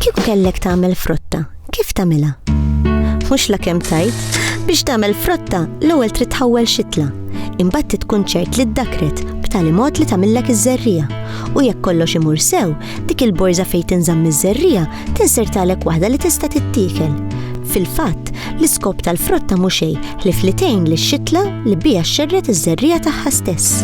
Kieku kellek tagħmel frotta, kif tagħmilha? Mhux la kemm tajt, biex tagħmel frotta l-ewwel trid tħawwel xitla. Imbagħad tkun ċert li ddakret b'tali mod li tagħmillek iż-żerrija. U jekk kollox imur sew, dik il-borża fejn tinżamm iż-żerriegħa tinsertalek waħda li tista' tittiekel. Fil-fatt, l-iskop tal-frotta mhu xejn ħlief li tgħin lix-xitla li biha xxerred iż-żerriegħa tagħha stess.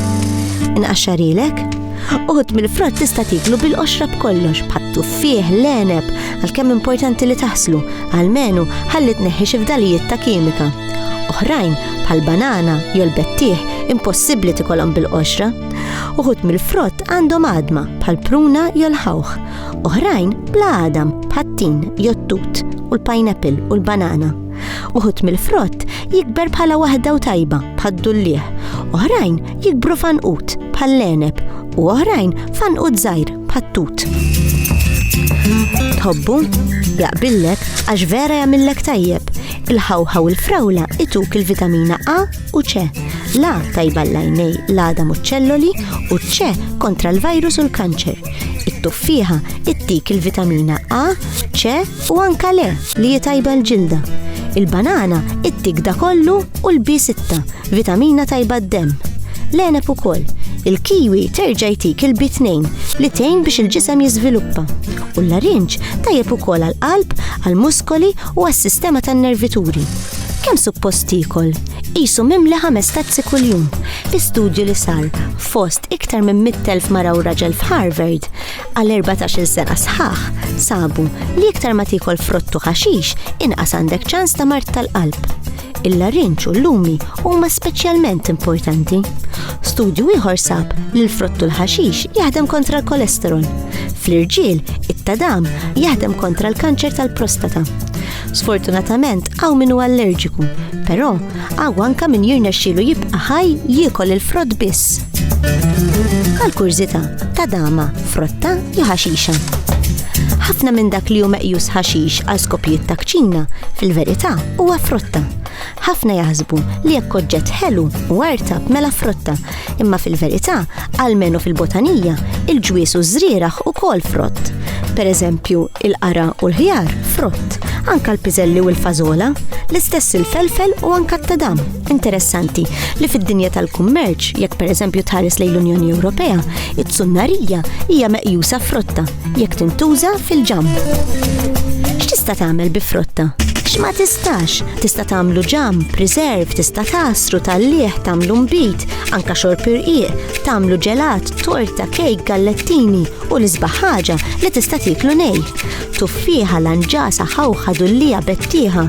Inqaxxarilek? Uħud mill-frott tista' tiklu bil-qoxra b'kollox, bħat-tuffieħ, l-għeneb, għalkemm importanti li taħslu, għalmenu ħalli tneħħi xi fdalijiet ta' kimika. Oħrajn, bħal banana jew l-bettieħ, impossibbli tikolhom bil-qoxra. Uħud mill-frott għandhom għadma bħal pruna jew l-ħawħ, oħrajn bla għadam bħat-tin jew tut u l-pineapple u l-banana. Uħud mill-frott jikber bħala waħda u tajba bħad-dullieħ, oħrajn jikbru fanqut bħall-leneb u oħrajn fanqut żgħir bħat-tut. Tħobbu? Jaqbillek għax vera jagħmillek tajjeb. Il-ħawħa u l-frawla ituk il-vitamina A u ċe, la tajba l-lajnej l-għada muċċelloli u ċe kontra l-virus u l-kanċer. It-tuffiħa ittik il-vitamina A, ċe u anka le li jitajba l-ġilda. Il-banana ittik da kollu u l-B6, vitamina tajba d-dem. L-enep u koll, il-kiwi terġa jtik il-B2 li tejn biex il-ġisem jizviluppa. U l-larinġ tajjeb ukoll għal-qalb, għal-muskoli u għas-sistema tan-nervituri. Kemm suppost tiekol? Qisu mimli ħames tazzi kuljum. Bi studju li sar fost iktar minn 100,000 mara u raġel f'Harvard għal 14-il sena sħaħ sabu li iktar ma tiekol frott u ħaxix inqas għandek ċans ta' mart tal-qalb. Il-larinċ u l-lumi huma speċjalment importanti. Studju ieħor sab li l-frott u l-ħaxix jaħdem kontra l-kolesterol. Fl-irġiel, it-tadam jaħdem kontra l-kanċer tal-prostata. Sfortunatament hawn min huwa allerġiku, però hawn anke min jirnexxielu jibqa' ħaj jiekol il-frott biss. Għal kurżità ta' dama, frotta jew ħaxixa. Ħafna minn dak li hu meqjus ħaxix għal skopijiet ta' kċina, fil-verità huwa frotta. Ħafna jaħsbu li jekk oġġett ħelu u artab mela frotta, imma fil-verità, almenu fil-botanija, il-ġwies u ż-żrieragħ ukoll frott. Pereżempju, il-qara u l-ħjar frott, anka l-piżelli u l-fażola, l-istess il-felfel u anka t-tadam. Interessanti li fid-dinja tal-kummerċ, jekk pereżempju tħares lejn l-Unjoni Ewropea, it-sunnarija hija meqjusa frotta Jekk tintuża fil-ġamm. X'tista' tagħmel bi frotta? X'ma tistax? Tista' tagħmlu ġamm, preserve, tista' tasru tal-lieħ, tagħmlu mbit, anka xorb irqiq, tagħmlu ġelat, torta, kejk, gallettini u l-isbaħ ħaġa li tista' tieklu nej. Tuffiħa, lanġasa, ħawħa, dullija, bettieħa.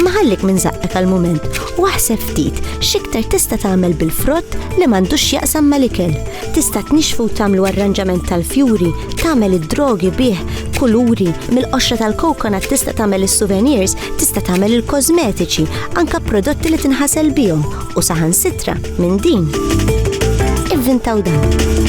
Maħallik minn zaqqek għal-mument u aħseb ftit xiktar tista' tagħmel bil-frott li m'għandux jaqsam mal-ikel. Tista' tnixxfu u tagħmlu arranġament tal-fjuri, tagħmel id-drogi bih kuluri, mill-qoxra tal-coconut tista' tagħmel is-souvenirs, tista' tagħmel il-kożmetiċi, anke prodotti li tinħasel bihom u saħansitra minn din. Ivvintaw dan.